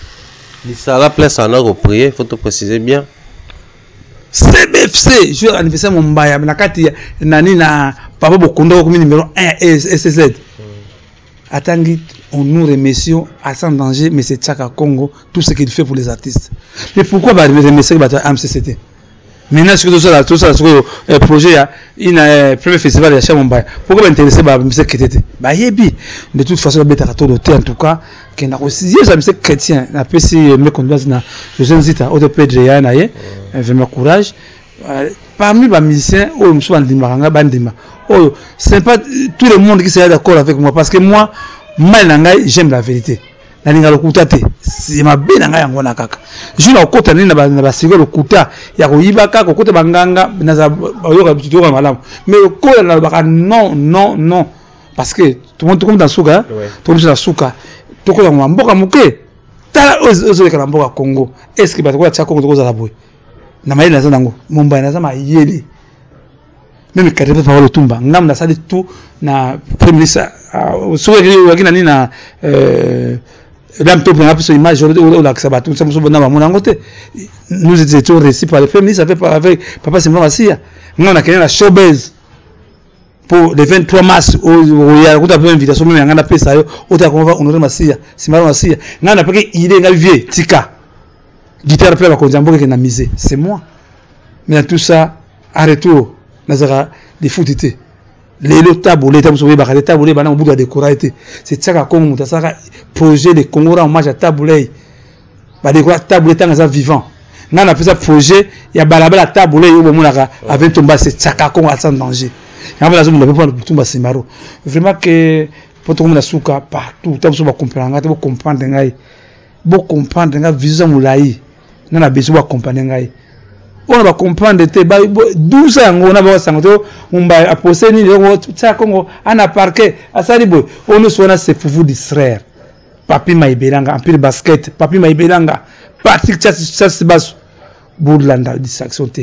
lisala place ana ko prier faut to préciser bien CBFC jour anniversaire Mombaya na kati nani na papa Bokondo okomi numéro 1 SSZ hmm. atangi on nous remercions à sans danger mais c'est Chaka Congo tout ce qu'il fait pour les artistes mais pourquoi ba remercier bato ya MCCT maintenant soki tosala tosala sikoyo eh, projet ya ina eh, premier festival ya cha Mombaya pourquoi ba intéressé ba miseke te te bayebi de toute façon babetaka tolo te en tout cas kenda koyeza mise chrétien napesi meko ndoise na josé nzita oyo topedre ya na ye mm. vrema courage euh, parmi bamusicien oyo mosusu bandimaka ngai bandima oyo c'est pas tout le monde qui sera d'accord avec moi parce que moi mai na ngai j'aime la vérité nalinga lokuta te mabe na ngai yango wana kaka jour nakokota nini na basiko lokuta ya koyiba kaka kokota banganga naza bayoka malamu mais lokola nalobaka non non non parce que tokomi na suka tokomi na suka tokolangwa mboka moke tala ozoleka na mboka congo est ce que bato koya tia congo tokozala boye na mayele naza nango mombai naza mayele meme kati mpe papa lotumba ngambo nasali tout na premier ministre ah, soki oyaki na nini na euh, dame to mpona biso image olakisa bato mosa mosusu na bamona yango te nous étions réussi par le premier ministre avec papa simba masiya ngai nakende na showbase po le 23 mars oya kuta pe invitation meme ngana pesa yo ota ko va honorer masiya simaro masiya ngana pe ke idée ngai vie tika guitare pe ba konza mboke ke na mise c'est moi mais tout ça à retour nazaka des foutite lelo tabole ta muso yebaka te tabole bana mobutu ya decourage te se tiaka kongo moto asalaka projet de congo ra hommage ya tabulei bandeko ya table ntango aza vivant ngai napesa projet ya balabala table oyo bomonaka ave ntomba se tsaka kongo aza danger yango mpe nazomona mpe mpona ntomba semaro vraiment ke mpo tokomona suka partout ta biso bacomprendre ngai te bocomprendre ngai bocomprendre ngai vision eza molai ngai na besoin bacomprendre ngai oyo bacomprendre te dusa yango na basango te mumbai apose nini tsaka kongo ana parke asali boye oyo nyonso wana se pour vous distraire Papi Maibelanga, Empire Basket, Papi Maibelanga, Patrick Chassibasu, Bourlanda, distraction te.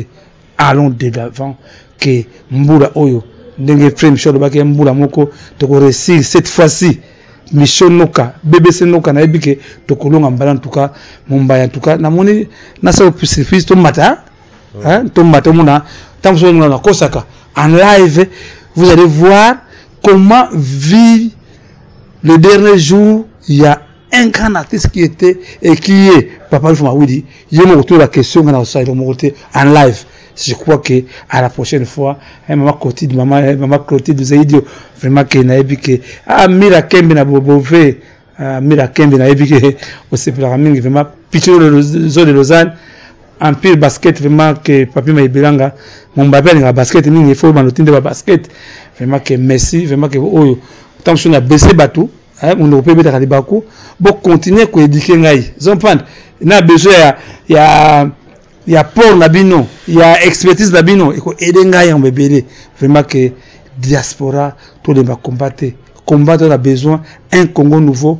Allons de l'avant que Mboula Oyo, Ndenge Frame Show, Lobaki Mboula Moko, toko réussir cette fois-ci. Michel Noka, BBC Noka, na ebike, toko longa mbala en tout cas, Mumbai en tout cas, na moni, na sa opusifis, to mata, hein, to mata mona, tant que ça, on a kosaka, en live, vous allez voir comment vivre le dernier jour il y a un grand artiste qui était et qui est papa Alpha Mawidi ye moko tola question ngana osalela moko te en live je crois que à la prochaine fois eh, maman Clotilde maman eh, maman Clotilde vous avez dit vraiment que nayebi que ah Mira Kembe na Bobove ah Mira Kembe nayebi que osepelaka mingi vraiment pitcho zo de Lausanne empire basket vraiment que papi maibelanga mombape alingaka basket mingi ifo oyeba notinde ba basket vraiment que messi vraiment que oyo ntango mosusu na bese bato eh, monoko mpe ebetaka libaku bocontinue koedike ngai zompande na besoin ya, ya, ya port na bino ya expertise na bino ekoede ngai yango ebele vraiment que diaspora tolemba combat te combat to na besoin un congo nouveau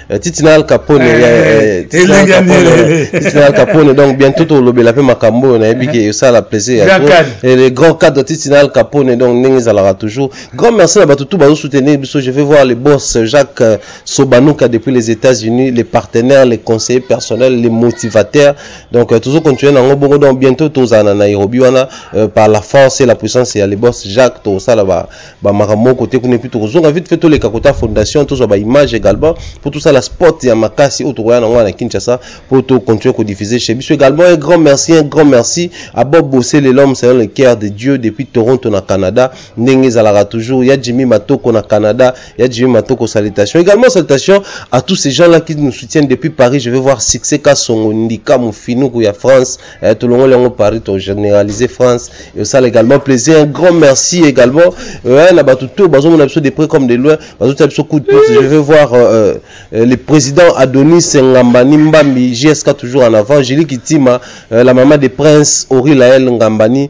Eh, titi na al capone eh, eh, titi na al capone donc bientôt tolobela mpe makambo oyo nayebi ke esala plaisir ya le grand cadre titi na al capone donc ndenge ezalaka toujours grand merci na bato tout bazosoutenir biso je vais voir le boss jacques euh, sobanuka depuis les états unis les partenaires les conseillers personnels les motivateurs donc euh, tozo continuer nango bongo donc bientôt tozala na nairobi wana euh, par la force et la puissance ya le boss jacques tosala ba ba makambo kote kuna epuis tokozonga vite fait toleka kota fondation tozwa ba image également mpo tosala sport ya makasi oyo tokoya nango na kinshasa mpo tocontinue kodiffuser chez biso également un grand merci un grand merci à bob bosele l'homme selon le cœur de dieu depuis toronto na canada ndenge ezalaka toujours ya jimmy matoko na canada ya jimmy matoko salutation également salutation à tous ces gens là qui nous soutiennent depuis paris je vais voir succès kasongo ndika mofinuku ya france Eh, tolongoli yango paris to généraliser france esala également plaisir un grand merci également euh, na bato to bazomona biso de près comme de loin bazotia biso coup de pouce je vais voir euh, euh, le président adonis ngambani mbambi jsk toujours en avant julie kitima euh, la maman de prince ori lael ngambani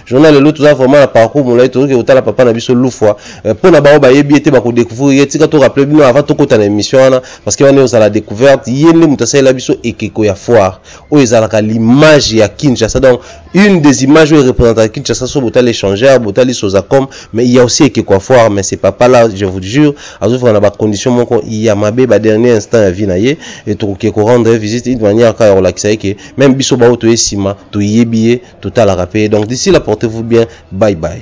journal lelo toza vraiment na parcours molai tozoki kotala papa na biso lufwa eh, mpo na bango bayebi ye te bakodécouvrir ye tika torappele bino avant tokota na émission wana parce que wana ozala découverte ye nde moto asalela biso ekeko ya foire oyo ezalaka l'image ya kinshasa donc une des images oyo erepresentaka kinshasa so botali échangeur botali sozacom mais il y a aussi ekeko ya foire mais c'est papa là je vous jure azofika na bacondition moko ya mabe badernier instant ya vie na ye tokoki korendre visite une manière kaka ya kolakisa ye ke Meme biso baoyo toye sima toyebi ye totalaka pe ye donc d'ici là portez vous bien bye bye.